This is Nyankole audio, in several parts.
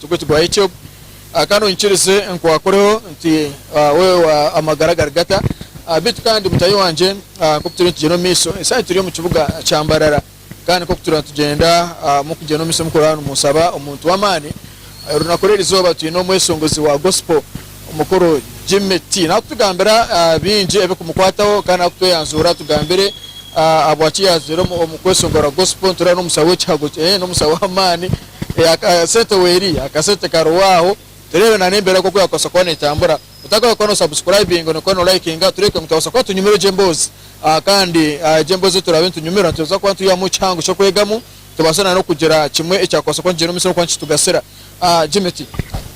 Tugutwaho ekyo kandi onyikirize nkwakureho nti wewe amagara gari gata. Beitu kandi mutahi wangye nkoku turiyo nitugyenda omu maiso, esaaha egi turi omu kibuga kya Mbarara kandi nkoku turiyo nitugyenda omu kugyenda omu maiso mukuraaba nimunsaba omuntu w'amaani. Orunaku rw'eri izooba twine omweshongozi wa Gospel mukuru Jimmy T naakutugambira bingi ebirikumukwataho kandi naakutweyanzuura atugambire ahabwaki yaazire omu kweshongora Gospel nitureeba n'omusaho w'ekihago, eeh n'omusaho w'amaani. Eh, akasente weri, akasente karoho aho. Tureebe na n'embeera nk'oku yakubaasa kuba netambura. Otakahwe kuba no subscribinga, nokuba no likinga, tureeke ngu twabaasa kuba tunyumirwe egyo emboozi. Ah, kandi ah, egyo emboozi ei turaabe nitunyumirwa nitubaasa kuba nitwihamu ekihango ky'okwegamu, tubaase na n'okugira kimwe ekyakubaasa kuba nikigyenda omu maisho n'okuba nikitugasira. Ah, Jimmy ti.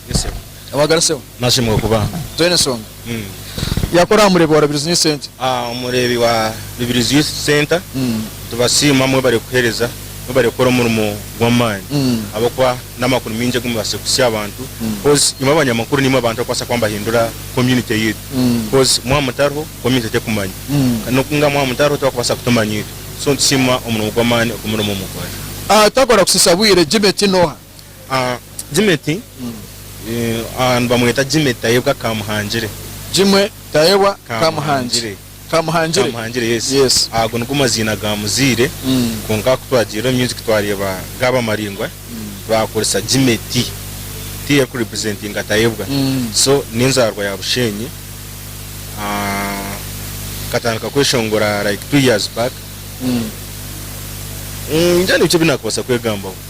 Yes, sebo. Wagarutseho? Nashemwa kuba. Toyine ensonga? Yakora aha mureebi wa Rubirizi Youth Centre? Aha mureebi wa Rubirizi Youth Centre nitubasiima mwebare kuhereza, mwebare kukora omurimo gw'amaani ahabw'okuba n'amakuru maingi agu mubaasize kuhitsya aha bantu coz imwe abanyamakuru nimwe abantu abakubaasa kuba nibahindura community yaitu coz mwaba mutariho community tekumanya kandi n'oku mwaba mwaba mutariho tibakubaasa kutumanya itwe so nitusiima omurimo gw'amaani ogu murimu mukora. Twakora kusiisa bwire, Jimmy Tinoha. Ah, Jimeti, eh, ah, nibamweta Jimeti Tayebwa Kamuhangire. Jimwe Tayebwa Kamuhangi. Kamuhangire. Kamuhangire. Kamuhangire, yes. Yes. Ago nigo maziina ga muzaire, Mm. kwonka ku twagiire omu music twareeba gaaba maraingwa, baakoresa Jimeti, ti erikurepresentinga Tayebwa. Mm. So, n'enzaarwa ya Busheenyi. Ah, nkatandika kweshongora like two years back. Mm. Mm, ningira nibikye ebi naakubaasa kwegambaho.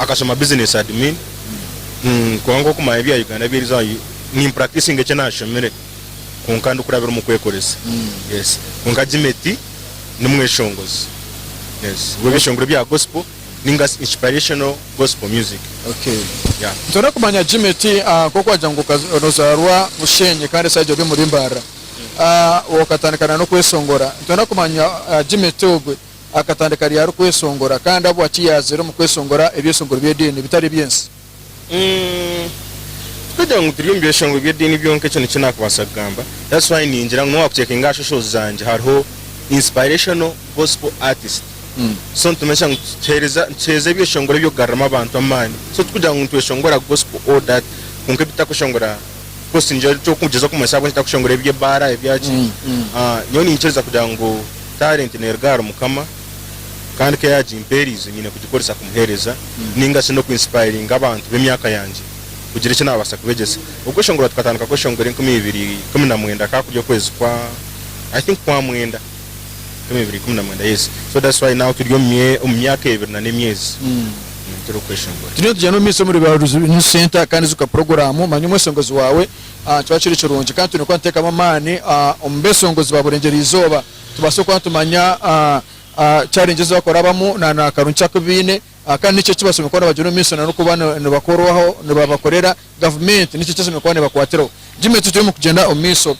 akashoma business admin kwonka nk'okumanya ebya Uganda ebi eriza ni practicing eki nashomire kwonka ndikurabira omu kwekoresa yes kwonka Gimeti ni mweshongozi yes w'ebishongoro bya gospel ninga shi inspirational gospel music Okay. yeah. Nitwenda kumanya Gimeti ah, nk'oku wagira ngu okaza- nozarwa Bushenyi kandi esaaha egi ori omuri Mbarara ah, wakatandika na n'okweshongora nitwenda kumanya ah, Gimeti ogwe akatandika ari arikweshongora, kandi ahabwaki yaazire omu kweshongora ebyeshongoro by'ediini bitari eby'ensi? Umm tikagira ngu turi omu byeshongoro by'ediini byonka ekyo nikyo naakubaasa kugamba that's why ningira ngu n'owaakucekinga aha socials zangye hariho inspirational gospel artist so nitumanyisa ngu tuheereza nituheereza ebyeshongoro eby'okugaruramu abantu amaani so tikugira ngu nitweshongora gospel all that kwonka ebi tutakweshongora course nigira nti okugyezaho kumanyisa ahabw'enki ntakushongora eby'ebaara ebyaki Mm, mm. Ah, nyowe ninkiriza kugira ngu talent neruga ahari mukama kandi ku yagimpeerize nyine kugikoresa kumuheereza ninga shi n'okwinsipayiringa abantu b'emyaka yangye kugira eki naabaasa kubegyesa okweshongora tukatandika kweshongora enkumi ibiri ikumi na mwenda ka kuri okwezi kwa i think kwa mwenda Omu ebiri ikumi na mwenda yes so that's why now turi omu mye omu myaka ebiri na n'emyezi mm, turi okweshongora. Turiyo nitugya n'omu maisho omu riba Reunion Centre kandi zuka puroguraamu manya omweshongezi waawe ah, kiba kiri kirungi kandi twine kuba nituteekamu amaani ah, omu beeshongozi ba burengyera eizooba tubaase kuba nitumanya ah, ah, challenges ezi barikurabamu na na karungi ki aku baine ah, kandi niki eki bashemereire kuba nibagyera omu maisho na n'okuba ni nibakorwaho nibabakorera gavumenti niki eki eshemereire kuba neebakwatiraho Jimmy turi omu kugyenda omu maisho.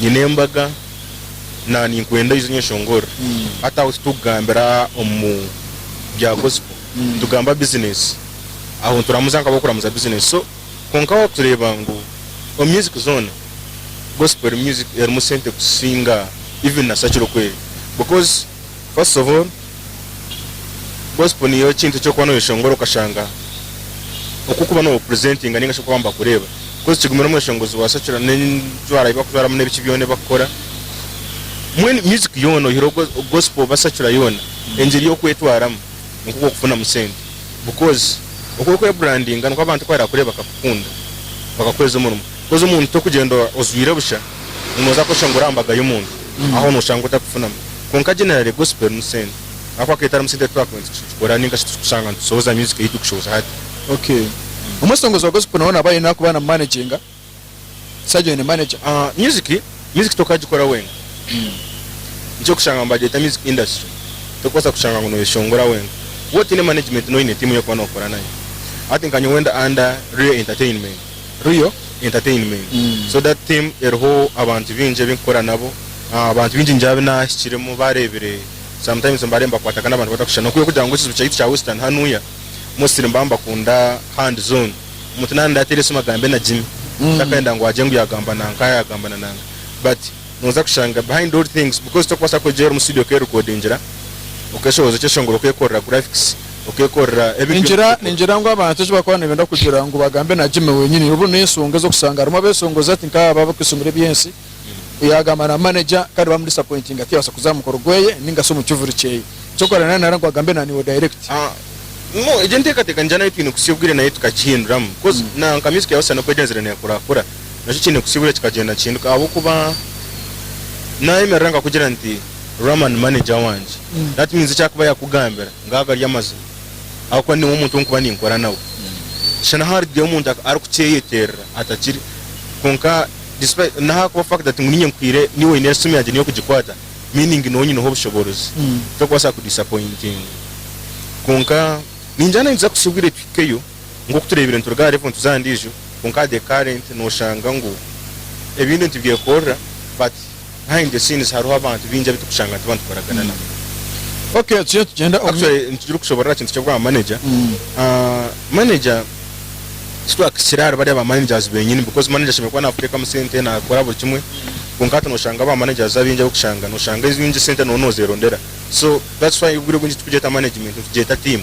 nyine embaga na ninkwenda oije onyeshongorere hati aho titukugambira omu bya gospel nitugamba business aho nituramuza nka abokuramuza business so kwonka wakureeba ngu omu music zoona gospel music erimu sente kusinga even na sakiro kweri because First of all, gospel niyo ekintu ekyokuba noyeshongora okashanga oku okuba nobu presentinga ninga shi oku abantu bakureeba coz kigumira omweshongozi wa secular nenju arayi bakujwaramu nebiki byona ebibakukora mbwenu music yoona oyihireho go gospel oba secular yoona engyeri yokwetwaramu nikwo kwokufunamu sente because oku orikwebrandinga nikwo abantu ku barakureba bakakukunda bakakuhweza omurimo. Haza omuntu tokugyenda ojwaire busha ngu noza kweshusha ngu ori aha mbaga y'omuntu aho noshanga otakufunamu. Kwonka generally gospel ni sente ahakuba ka etarimu sente titwakaba nitukigikora ninga shi tikushanga nitushohoza music ei turikushohoza hati. Ok. Omweshongozi wa gospel nawe naba aine arikuba namu managinga? Sergeant aine manager? Music music tokagikora wenka. Nikyo orikushanga nibagyeta music industry. Torikubaasa kushanga ngu noyeshongora wenka. Waaba otaine management noine tiimu y'okuba nookora nayo. Hati nka nyowe ndi under Ray Entertainment. Real Entertainment. So that team eriho abantu bingi ebi nkukora nabo. Abantu bingi ningira abu naahikiremu baareebire, sometimes mbaare nibakwatagana abantu batakushushana. Nokubiire kugira ngu ekiju kyaitu kya Western hanuya, mostly mbaba nibakunda hands on. Omuntu naaba naateera esimu agambe nagimya. Takayenda ngu agye ngu yaagamba nanka, yaagamba na nanka. But. Noza kushanga behind all things because tokubaasa kwegyera omu studio okerekodingira, okeshoboza ekyeshongoro okekorera graphics, okekorera everything you Ningira can think of. ningira ngu abantu eki bakuba nibenda kugira ngu bagambe na Jimmy wenyini obu n'enshonga ez'okushanga harimu abeshongozi hati nk'abo abakweshongora eby'ensi yagamba na manager kandi bamu disappointinga tiyabaasa kuza aha mukoro gweye ninga shi omu kivuri kyeye eky'okukora nari nari ngu agambe na niiwe direct. Ah no egyo enteekateeka ningira nayo twine kutsya obwire nayo tukagihinduramu coz na nka music ya Husana oku egyenzire neekurakura nakyo kiine kusiiburira kikagyenda nikihinduka ahabw'okuba naayemerera nkakugira nti Rama ni maneja wangye Mm. that means eki arikuba yaakugambira ngaago gari amazima ahabw'okuba niiwe omuntu ou nkuba ninkora nawe shana naha arikugira omuntu ak- arikukyeyeterera atakiri kwonka despite naha arikuba fact that ngu niinye nkwire niiwe oine esimu yangye niiwe kugikwata meaning niiwe onyineho obushoboorozi Mm. tokubaasa kudisapointinga kwonka ningira naainza kusiiburira tuhikeyo Nk'oku tureebire nituruga ahari ebintu za ndiijo, kwonka aha the current noshanga ngu ebintu nitibyekorera but behind the scenes hariho abantu bingi abu tukushanga nituba nitukoragana nabo. Okay tugire tugyende omu- Actually nitugire okushoborora aha kintu ky'obwa manager. Mm. Ah, manager tikibakisire ahari bariya ba managers benyini because manager ashemereire kuba nakuteekamu sente, nakora buri kimwe kwonka hati noshanga aba managers abaingi abu okushanga noshanga enyingi sente noba nozeerondera so that's why obwire obwingi tikugyeta management nitugyeta team.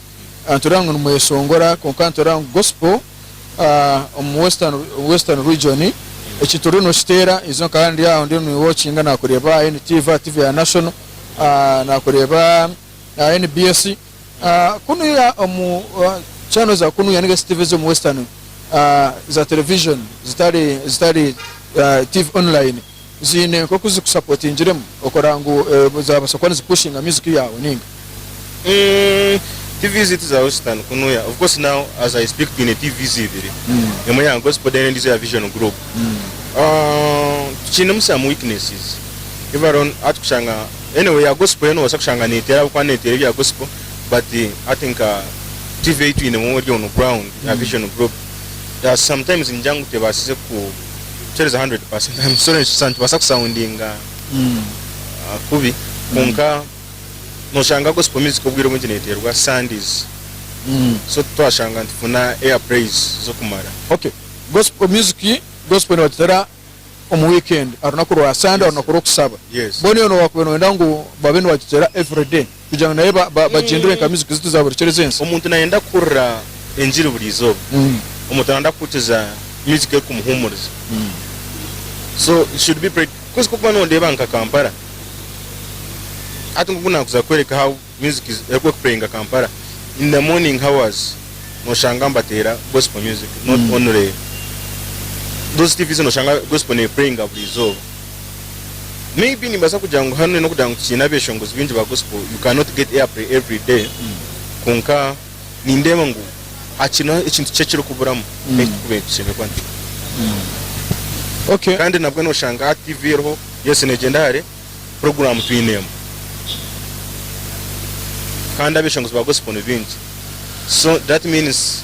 aha nitureeba ngu nimweshongora kwonka aha nitureeba ngu gospel omu western region eki turiyo nokiteera ijo nka hanu ndyaha ndiyo ni watchinga nakureeba aha NTV aha TV ya national nakureeba aha NBS kunuya omu channel za kunuya ninga shi TV z'omu western za television zitari zitari TV online ziine nk'oku zikusapotingiremu okora ngu zaabaasa kuba nizipushinga myuziki yaawe nainga? Tiivi ziitu za Western kunu, yeah, of course now as I speak twine tiivi ibiri, emwe ya Gospel then endiijo ya Vision Group. Tukiinemu some weaknesses, even on hati kushanga, anyway eya Gospel yo noobaasa kushanga neeteera ahabw'okuba neeteera ebya Gospel but hati nka tiivi ei twinemu eri on ground ya Vision Group, yeah, sometimes ningira ngu tebaasize ku. kukyereza 100% I'm sorry nikisa nitubaasa kusoundinga ah, kubi kwonka noshanga gospel music obwire obwingi neeteerwa Sundays so twashanga nitufuna air praise z'okumara Okay, gospel music, gospel nibagireetera omu weekend, aha runaku rwa Sunday, aha runaku rw'okusaba. Yes. Mbwenu iwe nooba wakubaire nooyenda ngu babe nibagigyera everyday? kugira ngu naye ba- ba- bagyendere nka mizigu zitu za buri kiro ez'ensi. Omuntu nayenda kuhurira engiri buri izooba, Mm. omuntu nayenda kuhurikiza music erikumuhumuriza. So it should be prayed. Coz kokuba nondeeba nka Kampala, hati nkoku nakuza kukwereka how music is- erikupureyinga Kampala, in the morning hours noshanga nibateera gospel music not Mm. only those TVs noshanga gospel nepureyinga buri izooba. Maybe nimbaasa kugira ngu hanu n'okugira ngu tikiine abeshongozi baingi ba gospel, you cannot get airplay every day, kwonka nindeeba ngu hakiine ekintu kikye ekirikuburamu ekirikuba nikishemerwa nti. Okay. Kandi nabwe noshanga hati TV eriho, yes negyenda hare, program twine emwe. Kandi abeshongozi ba gospel nibaingi. So that means.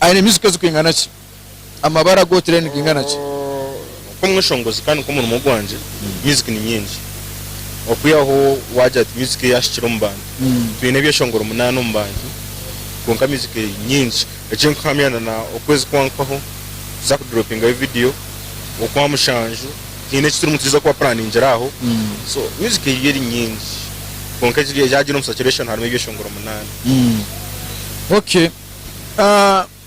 Aine emyuziika ezirikwingana ki? Amabara g'otire nigingana ki? Oku omweshongozi kandi nk'omurimo gwangye, myuziiki ni nyingi. Okwihaho waagira ati myuziiki ei ahikire omu bantu. Twine ebyeshongoro munaana omu bantu, kwonka myuziiki nyingi. Eki nkuhamya na na okwezi kwankaho tuza kuduroopingayo vidiyo, okwa mushanju twine eki turimu nitwiza kubapuraningire aho. So myuziiki ei eri nyingi, kwonka egi yaagira omu circulation harimu ebyeshongoro munaana. Okay.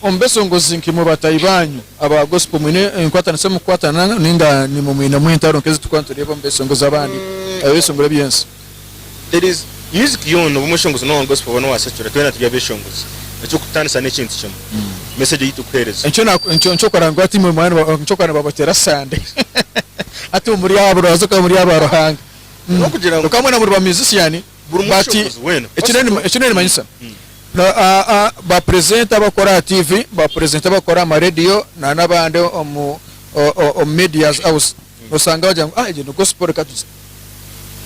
Omu besongozi nk'eimwe bataahi baanyu aba Gospel mwine enkwataniso omu kukwatana nainga nimwe mwinemu entaro nk'ezi turikuba nitureeba omu besongozi abandi ab'ebishongoro eby'ensi? Music yoona, oba omweshongozi n'owa Gospel oba n'owa Secular, twena turi abeshongozi. Eky'okututaanisa n'ekintu kimwe, message ei turikuheereza. Nikyo kora ngu hati imwe nikyo kora nibabateera sande. Hati imwe muri abo, oraazoka muri abo Ruhanga. Kwonka mwena muri ba musician. But eki nerimanyisa ba presenter abakora aha TV ba presenter abakora aha ma radio na nabandi omu medias house nosanga bagira ngu egyo ni gospel reka tugi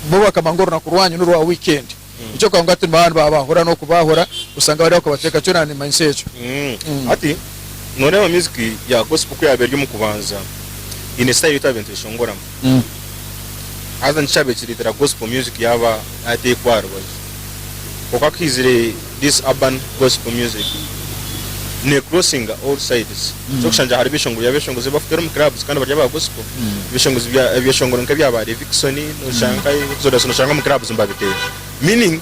bo bakaba ngu orunaku rwanyu norwa weekend nikyo kugira ngu hati nibaba nibabahura nokubahura osanga bari akobateeka kyona nimanyisa ekyo hati noreeba music ya gospel ku yaba eri omu kubanza eyine style etabe neteshongoramu. Haza nikihaba ekiretera gospel music yaba yatekwa aha rubaju. Kwonka kuhizire this urban gospel music ne crossinga all sides. Kyokushangire hariho ebishongoro byabeshongozi ebibakuteera omu clubs kandi bari aba gospel. Ebishongozi bya ebyeshongoro nka ebya ba Levixone noshanga nka Exodus noshanga omu clubs nibabiteera. Meaning.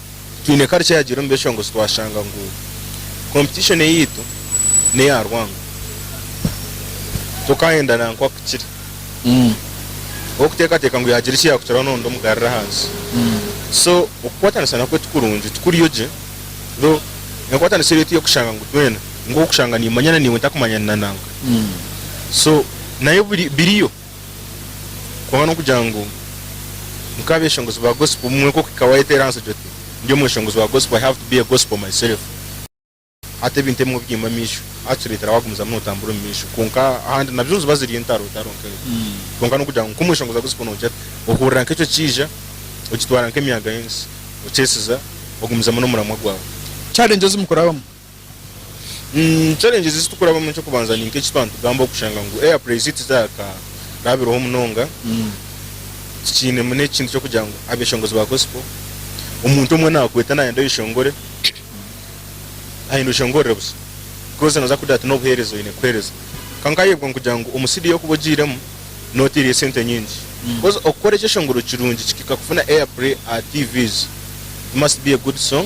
Twine kare ekyayagiire omu byeshongozi twashanga ngu competition eyaitu neya rwango tokayenda nankwa akukire owokutekateka ngu yagira ekiyakukiraho nondi omugarire ahansi so okukwatanisa nakwo tikurungi tikuriyo gye though enkwatanisa eri eyokushanga ngu twena ngu okushanga nimanyana naiwe ntakumanyani nanankwe so nayo biriyo. kwonka n'okugira ngu nka abeshongozi ba gospel obumwe nk'oku ika wayeteera ahansi oti ndi omweshongozi wa gospel, I have to be a gospel myself. Hati ebintu ebimwe biine amaisho ahakitureetera wagumizamu notambura omu maisho kwonka ahandi nabyo niziba ziri entaro taro nka ezo kwonka n'okugira ngu nk'omweshongozi wa gospel nogira ota ohurira nk'ekyo kiija okitwara nk'emyaaga y'ensi okyesiza ogumizamu n'omuramwa gwaawe. Challenges mukurabamu. Mm, challenges ezi tukurabamu eky'okubanza ni nk'eki twantugamba okushanga ngu air praise tizakarabireho munonga Mm. tikiinemu n'ekintu ky'okugira ngu abeshongozi ba gospel omuntu omwe nakweta nayenda oyeshongore ayenda oshongorere busa because naza kugira ati n'obuheereza oyine kuheereza kwonka nkayebwa nkugira ngu omu studio okuba ogiiremu noteire esente nyingi Mm. because okukora ekyeshongoro kirungi kihika kufuna air pray aha tvs it must be a good song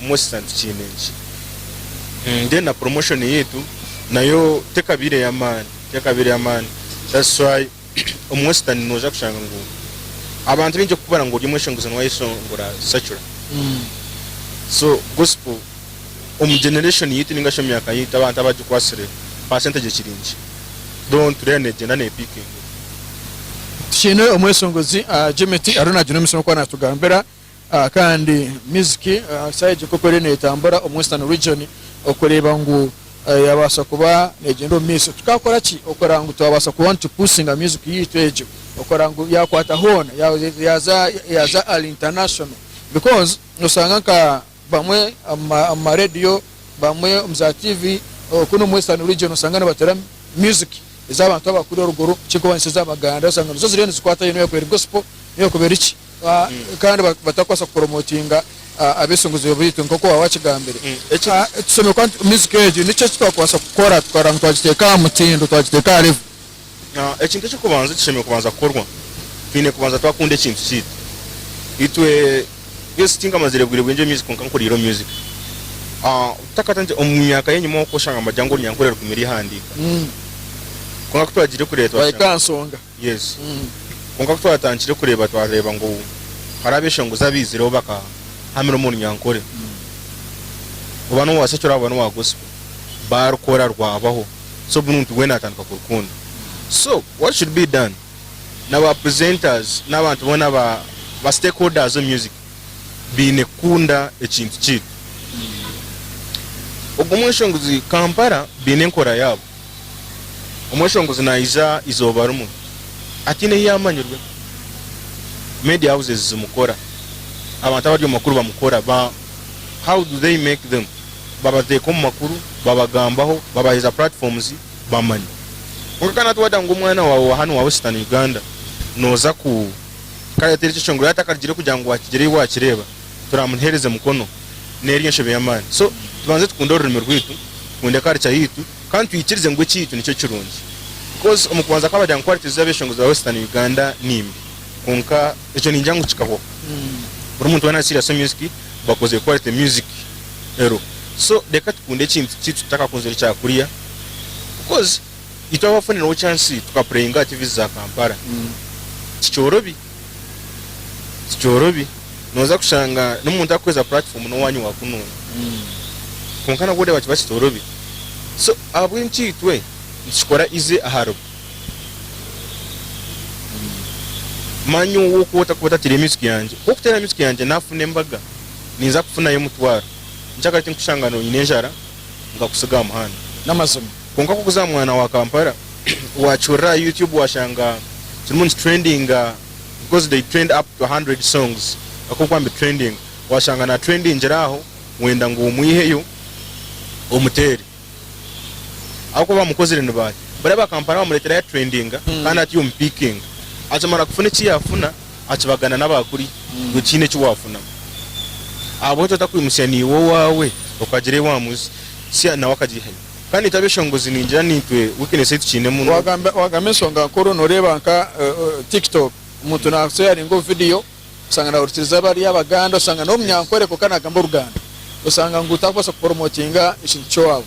Omu Easter nitukiine nki? Then na promotion yaitu nayo tekabaire ey'amaani, tekabaire ey'amaani. That's why omu Easter nooza kushanga ngu abantu baingi okukubara ngu ori omweshongozani wa Yesu ngu orasacura. So Gospel omu generation yaitu ninga shi omu myaka yaitu abantu abagikwatsire percentage ekiri nkye. Though nitureeba neegyenda nepikinga. Tukiine omweshongozi Jimmy T ariyo naagira omutsima ku ari naatugambira Kandi music ahari side nk'oku eriyo netambura omu Western region okureeba ngu yabaasa kuba negenda omu maiso tukakora ki okureba ngu twabaasa kuba nitu pusinga music yaitu egyo okureba ngu yakwata hoona yaza ali international because noshanga nka bamwe omu ma radio, bamwe omu za TV, oku n'omu Western region osanga nibateera music ez'abantu abakuru eruguru ekirikubanisya ez'Abaganda osanga nizo ziriyo nizikwatayo niyo erikuba eri gospel niyo erikuba eri ki kandi batakubaasa kupromotinga ab'eisinguzibwa baitu nk'oku waaba wakigambire. Ekitusemire kuba nti music egi niki eki twakubaasa kukora tukaba ngu twagiteeka aha mutindo twagiteeka aha level. Ekintu eky'okubanza ekishemereire kubanza kukorwa, twine kubanza twakunda ekintu kyaitu itwe. Yes, tinkamaziire bwire bwingi omu music kwonka nkuriire omu music. Obutakata ngye omu myaka y'enyima oku oshanga mbagira ngu orunyankore rukumi rw'ihandiiko. Kwonka ku twagiire kureeba twashanga. Twahika aha nsonga. Yes. Kwonka ku twatandikire kureeba twareeba ngu hariho abeshongozi abaizireho bakahamira omu runyankore. Oba noobaasa eki oraabe oba n'owa Gospel, baarukora rwabaho. so buri muntu weena atandika kurukunda so what should be done na ba presenters n'abantu boona ba ba stakeholders omu music baine kukunda ekintu kyaitu ogwo omweshongozi Kampala baine enkora yaabo omweshongozi naija eizooba rimwe ataine ahu yaamanyirwe media houses zimukora abantu abari omu makuru bamukora ba how do they make them babateeka omu makuru, babagambaho, babaheza platforms bamanye. Kwonka ka natwe wadaha ngu omwana wawe wa hanu wa Western Uganda noza ku kare teri kyeshongoro yaba atakarugire kugira ngu wakigire ei wakireba turamuhereze mukono neri enshebe yamani so tubanze tukunde orurimi rwitu tukunde culture yitu kandi twikirize ngu ekiitu nikyo kirungi because omu kubanza ka badaha ngu quality za beshongozi ba Western Uganda nimbi kwonka ekyo ningira ngu kikahwaho buri muntu wena ari serious omu music bakozire quality music ero so reka tukunde ekintu kitu tutakakunzire kya kuriya coz itwe abafunireho chance tuka playinga aha tvs za Kampala tikyorobi tikyorobi noza kushanga n'omuntu arikuhweza platform n'owanyu wa kununga kwonka nabwo oreba kiba kitorobi so ahabw'enki itwe nitukikora ize aharibo. Manya ow'okwota kwota atire emitswi yangye. Ku okutera emitswi yangye naafuna embaga, ninza kufunayo omutwaro. Ni ki akaba ari ekirikushangana oine enjara nkakutsiga aha muhanda? N'amazima. Kwonka ku okuza aha mwaana wa Kampala, waakihurira aha YouTube waashanga kirimu nikitrendinga because they trend up to a hundred songs. Kwonka ku waambitrendinga, waashanga naatrendingira aho wenda ngu omwiheyo omuteere. ahabw'okuba baamukozire nibaaya. Bariya ba kampani baamureetera yaturendinga kandi ati omu piikinga. Akimara kufuna eki yaafuna, akibagana n'aba kuriya ngu tihaine eki waafunamu. Ahabw'enki otakwimutsya naiwe owaawe okagira ei waamuzi tsya nawe akagihaiha? Kandi itwe abeshongozi ningira niitwe wikinesi ei tukiinemu n'obu. Waagamba enshonga nkuru, nooreeba nka Tiktok, omuntu naakuteeraringa obuvidiyo, osanga nahurikiriza abari abaganda osanga nomunyankore kwonka nagamba oruganda osanga ngu takubaasa kuporomotinga ekintu kyowaabo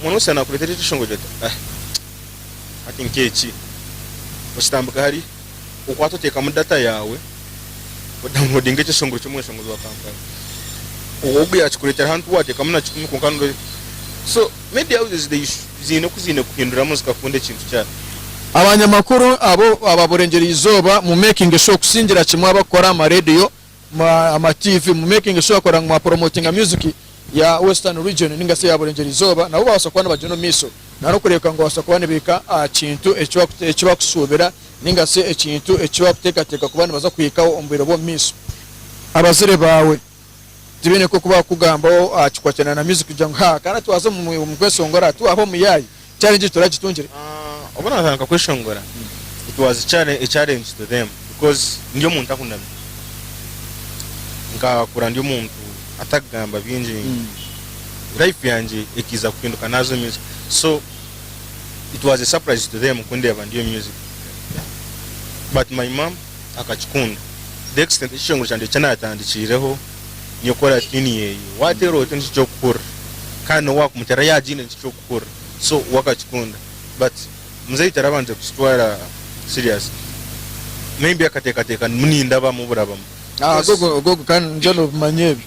Omwana w'omusya naakureetera ekishongooji ati, Ahe, hati nk'eki. Okitambika hari, okwata oteekamu data yaawe, odaunloadinga ekishongoro ky'omweshongozi wa Kampala. Ogu yaakikureetera hanu ti waateekamu na kikumi kwonka n'oreeba. So, media houses they should ziine oku ziine kuhinduramu zikakunda ekintu kyayo. Abanyamakuru abo ababurengyera eizooba mu making sure kusingira kimwe abakukora aha ma radio, ama TV mu making sure kora ngu mwa promotinga music ya western region ninga shi eya burengyera izooba nabo babasa kuba nibagyenda omu maiso nari okureebeka ngu babasa kuba nibaika aha kintu eki bakushuubira ninga shi ekintu eki bakuteekateeka kuba nibaza kuhikaho omu bwire bw'omu maiso. Abazaire baawe tibaine nk'oku baakukugambaho aha kikwatiraine na music kugira ngu ha, kare twaaza omu kweshongora, twaha omuyaayi. Challenge egi turagitungire? Obu naatandika kweshongora, it was a challenge to them because ndi omuntu ahunami. Nkakura ndi omuntu atarikugamba bingi. Life yangye ekaiza kuhinduka naaza omu music. So it was a surprise to them kundeeba ndi omu music. But my mum. akakikunda. Dexter nikyo kishenguro kyangye eki naatandikiireho nyekora tiuni yeeye. Waateera oti nikyo ky'okuhurira kandi n'obu waakumuteera yaagiine nikyo ky'okuhurira so we akakikunda but muzeeyi tarabanje kukitwara serious maybe akateekateeka ngu niindabamu burabamu. Ago ogo kandi ngyenda obimanya ebyo.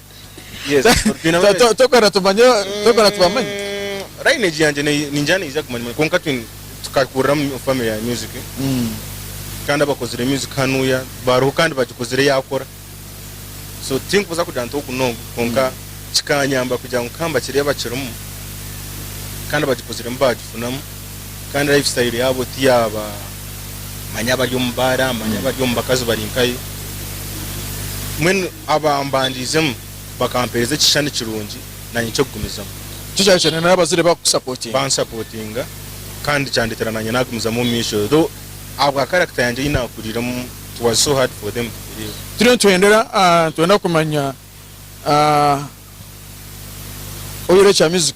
Yes, twine To- to- tokora tumanye tokora tubamanye Mm, lineage yangye ne- ningira neija kumanywa kwonka twine tukakurira mu family ya music kandi abakozire music hanuya bariho kandi bagikozire yakora so tinkubuza kugira nti ogu nogu kwonka kikanyamba kugira ngu nkamba kiri abakirimu kandi abagikoziremu bagifunamu kandi life style yabo tiyaba manya abari omu baara manya abari omu bakazi bari nkayo mbwenu Abambandiizemu bakampeereza ekishushani kirungi naanye ky'okugumizamu. Nikyo kyaareetera nanye n'abazaire bakusapotinga. Bansapotinga kandi kyandeetera naanye naagumizamu omu maisho though ahabwa character yangye ei naakuriiremu it was so hard for them to believe. Turiyo nitwendera nitwenda kumanya oyorekya music.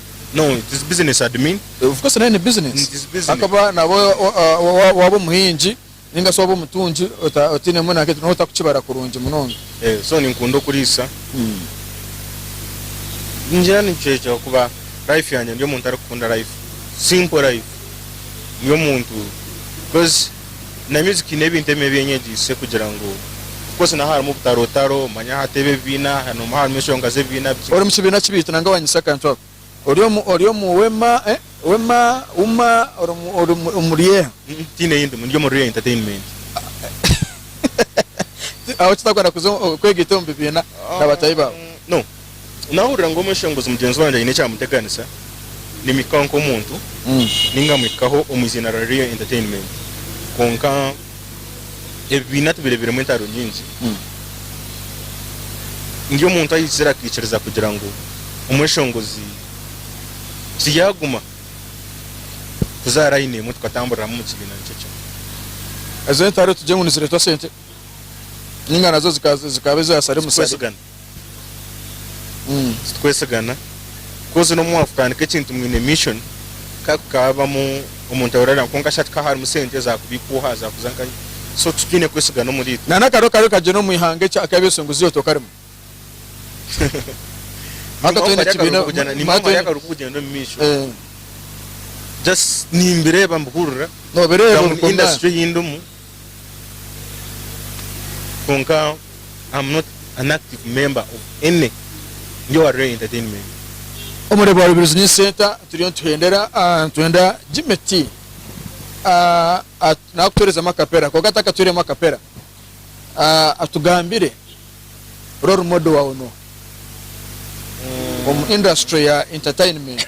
No, it is business admin. Of course nayo ni business. It is business. Ahakuba nabwo waaba omuhingi ninga shi waaba omutungi otainemu nanka eki, noba otakukibara kurungi munonga. Eh, so ninkunda okuriisa. Ningira nikyo ekyo ahakuba life yangye ndi omuntu arikukunda life. Simple life. Ndi omuntu coz. Na music eine ebintu ebimwe ebi enyegiise kugira ngu of course naha harimu obutarootaro, manya hati ebi ebibiina nomuha harimu enshonga z'ebibiina bikye. Ori mukibiina ki beitu nanga wanyitsa akantu ako? Ori omu ori omu wema eh wema uma ori omu ori omu omu ryeha? Mm tiine yi ndimu, ndi omu Rye Entertainment. Ahabw'oki otakwenda kuza omu kwega itwe omu bibiina na batahi baawe? No. Naahurira ngu omweshenguzi mugyenzi wangye aine ekyamuteganisa, nimuhikaho nk'omuntu nainga muhikaho omu iziina rya Rio Entertainment. Kwonka ebibiina tubireeberemu entaro nyingi. Ndi omuntu aizire akaikiriza kugira ngu omweshenguzi tiyaaguma kuza raini emwe tukatamburiramu omu kibiina nikyo kimwe. Ezo entaro tugire ngu nizireetwa sente nainga nazo zikaba eza sare musare. Tikwesigana. Titukwesigana ku oze n'omu mwaavu kutandika ekintu mwine mission kandi kukaabamu omuntu abaire arira kwonka shi hati ka harimu sente zaakubiikuuha zaakuza nka hi so titwine kwesigana omuriitwe. Na n'akaro kaawe ka gyenda omu ihanga eki akabi ebisinguzyo ebi tokarimu. Maka twena ekibiina Nimba omwe ahari akari kukugyenda omu maisho. Just nimbireeba mbihurira. Noobireeba ori ku industry ei ndimu. Kwonka am not an active member of any ndi owa Ray Entertainment. Omureeba wa Rubirizi ni Center turiyo nituhendera ah nitwenda Jimmy T ah at nakutuherezamu akapera kwonka atakatuhiremu akapera ah atugambire role model wawe nuha omu industry ya entertainment.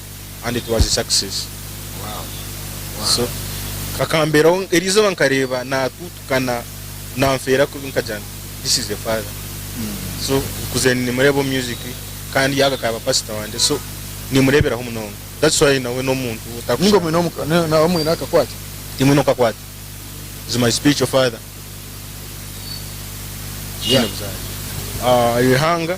and it was a success so kakamberaho erizooba nkareeba natutukana nanfeera kubi nkagira nti this is a father so nkuzire nimureeba omu music kandi yaaba akaba pastor wangye so nimureeberaho munonga that's why nawe n'omuntu ninga otakushana omwine omuka ne- nawe omwine akakwate timwe nokakwata is my spiritual father Yeah. Tihaine buzaare. Ah, eihanga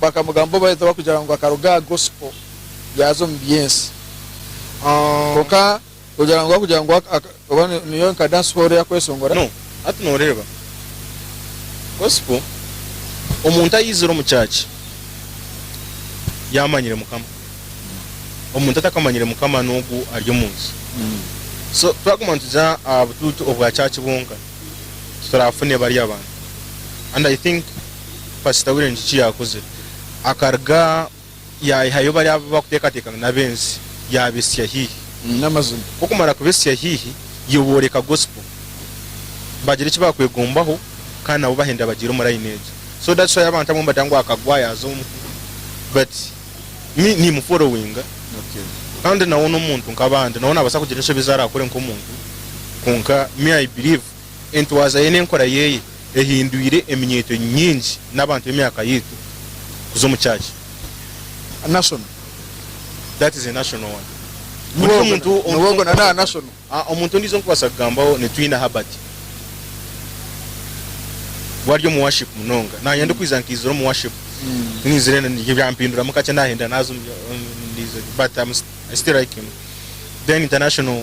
Bakamugambaho bareta bakugira ngu akaruga aha gospel yaaza omu byensi. Kwonka kugira ngu bakugira ngu oba niyo nka dance hall eyakweshongora. No, hati noreeba gospel omuntu ayizire omu church yamanyire mukama. Omuntu atakamanyire mukama nogu ari omu nsi. So twaguma nitugira aha butuutu obwa church bwonka titurafune bariya bantu and I think. pasita w'eiramizo eki yaakozire. Akaruga yaihayo bariya abu barikuteekateeka ngu n'ab'ensi, yaabetsya haihi. N'amazima, ku okumara kubetsya haihi, iwe booreka gosipo, baagira eki baakwegombaho, kandi nabo bahenda bagiire omu layini egyo. So that's why abantu abamwe nibagira ngu akagwa yaaza omu muhuro. But me niimufolowinga, kandi nawe n'omuntu nk'abandi, nawe naabaasa kugira enshobi ezi araakore nk'omuntu, kwonka me I believe entwaza ye n'enkora ye ehindwire eminyeeto nyingi n'abantu b'emyaka yaitu kuza omu church. A national that is a national one ondijo omuntu ah omuntu ondijo nkubasa kugambaho ni Twina Herbert we ari omu worship munonga nanye ndikwiza nkaizire omu worship nizire byampinduramu kakye nahindura naza omu but I still like him then international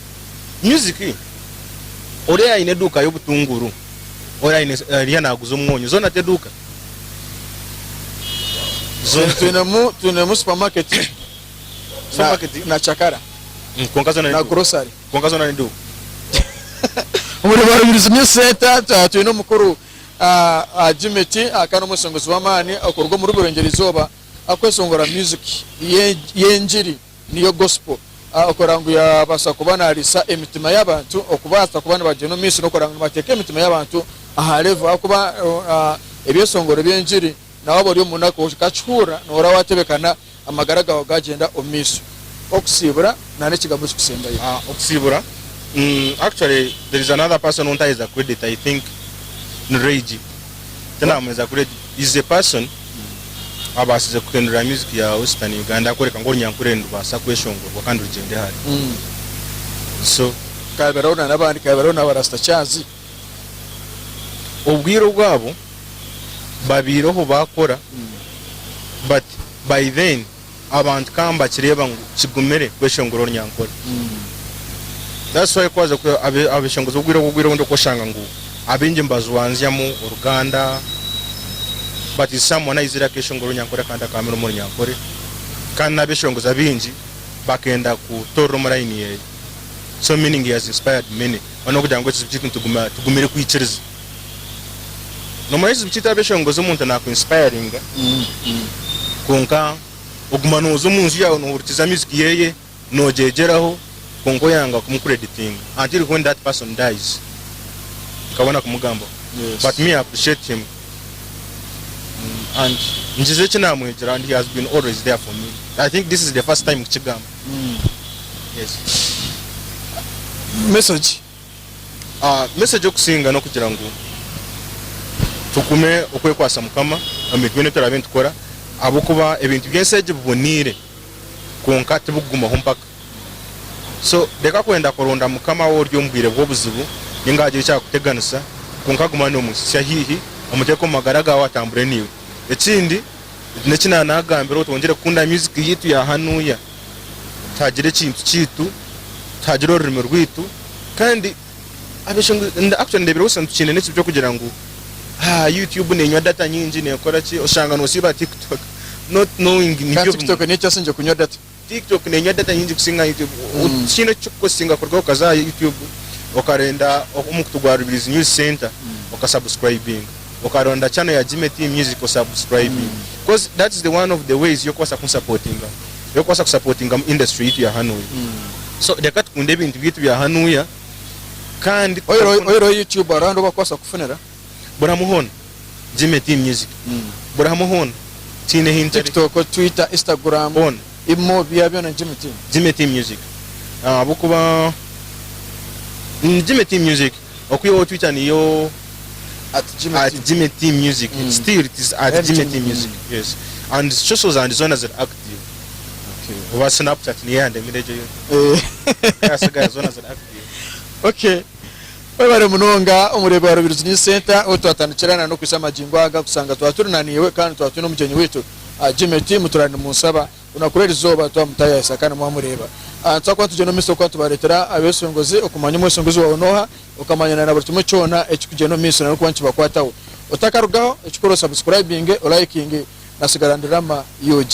Music Ori ayine eduuka y'obutunguru Ori ayine ariya naguza omwonyo zona teduuka? Zona Twinemu twinemu supermarket Supermarket? na na cakara Kwonka zona na neduuka? grocery Kwonka zona neduuka? Omuri Barubirizi New Centre ah, twine omukuru ah, ah, Jimmy T ah, kandi omweshongozi w'amaani okuruga omuri Burengyerwa-izooba akweshongora music y'e- y'engiri. Niyo Gospel okurora ngu yaabaasa kuba naariisa emitima y'abantu, okubaasa kuba nibagyenda omu maisho n'okurora ngu nibateeka emitima y'abantu aha revo. Ahakuba ebyeshongoro by'engiri na waaba ori omu munaku okakihurira, noohurira waatebekana, amagara gaawe gaagyenda omu maisho. Okusiibura nana ekigambo ekikusembayo. Okusiibura, actually there is another person ou ntaheza credita, I think ni Ray G. tinamweza kuri is a person abasize kuhindura music ya western Uganda akworeka ngu orunyankore nirubasa kweshongorwa kandi rugyende hare so kaberaho na nabandi kaberaho naba rasta kyazi obwire obwabo babeireho bakora but by then abantu ka nibakireeba ngu kigumire kweshongora orunyankore. That's why ku waaza ku- abe- abeshongozibwa obwire obwo obwire obundi okoshanga ngu abaingi nibajwanzyamu oruganda but is someone ayizire akeshongora orunyankore kandi akaamira omu runyankore kandi n'abeshongozi abaingi bakenda kutoorera omu layini yeeye so meaning he has inspired many. Mbwenu n'okugira ngu ekizibu kyaitu nitugume- tugumire kwikiriza. Noomanya ekizibu kyaitu abeshongozi omuntu naaku inspiringa kwonka oguma nooza omu nju yaawe noohurikiza music yeeye noogyegyeraho kwonka oyanga kumu creditinga until when that person dies nkabona kumugambaho but me I appreciate him and ngize eki naamwegyera and he has been always there for me I think this is the first time kukigamba yes. Message. Message okusinga n'okugira ngu tugume okwekwasa Mukama omu byona ebi turaabe nitukora ahabw'okuba ebintu by'ensi egi biboneire kwonka tibikugumaho mpaka. So reka kwenda kuronda Mukama waaba ori omu bwire bw'obuzibu ninga haagira ekyakuteganisa kwonka guma noomuhitsya haihi omuteeke omu magara gaawe atambure naiwe. Ekindi, eki naanaagambira otwongyere kukunda music yaitu ya hanuya. tuhagira ekintu kyaitu, tuhagira orurimi rwaitu kandi actually nindeeberwa busa nitukiine n'ekibi ky'okugira ngu ah YouTube neenywa data nyingi neekora ki, oshanga noosiiba TikTok not knowing nibyo bimwe. TikTok niyo ekyasingire kunywa data? TikTok neenywa data nyingi kusinga YouTube. Tihaine eki kirikukusinga kuruga ahu okaza aha YouTube okarenda omukutu gwa Rubirizi News Centre okasubscribinga. okaronda channel ya Jimmy Team Music osubscribinge coz that is the one of the ways y'okubaasa kunsapotingamu y'okubaasa kusapotingamu industry yaitu ya hanuya so reka tukunde ebintu byaitu bya hanuya kandi Oyihireho YouTube hariho ahu barikubaasa kukufunira? burihamwe hoona Jimmy Team Music burihamwe hoona tiine hi ntari TikTok, Twitter, Instagram, Hoona. Imo bya byona Jimmy Team. Jimmy Team Music ahabw'okuba Jimmy Team Music okwihaho Twitter niyo at Jimmy T music it's still it is at Jimmy T music yes and social zandi zona ziri active oba Snapchat niyo yandemire egyo yona yasigaye zona ziri active Okay. Webare munonga omureebi wa Rubirizi News Centre ahu twatandikira na n'okuhitsya magingo aga kushanga twaturi na naiwe kandi twatwine omugyenyi waitu Jimmy T muturane munsaba. Onakureeba erizooba twaba mutayaayisa kandi mwaba mureeba. Twakuba nitugyenda omu maiso kuba nitubareetera abeesongozi, okumanya omwesongozi waawe n'oha, okamanya na buri kimwe kyona ekirikugyenda omu maiso nari okuba nikibakwataho. Otakarugaho, ekikuru osabusikurayibinge, olayikinge na Sigara Ndi Rama UG.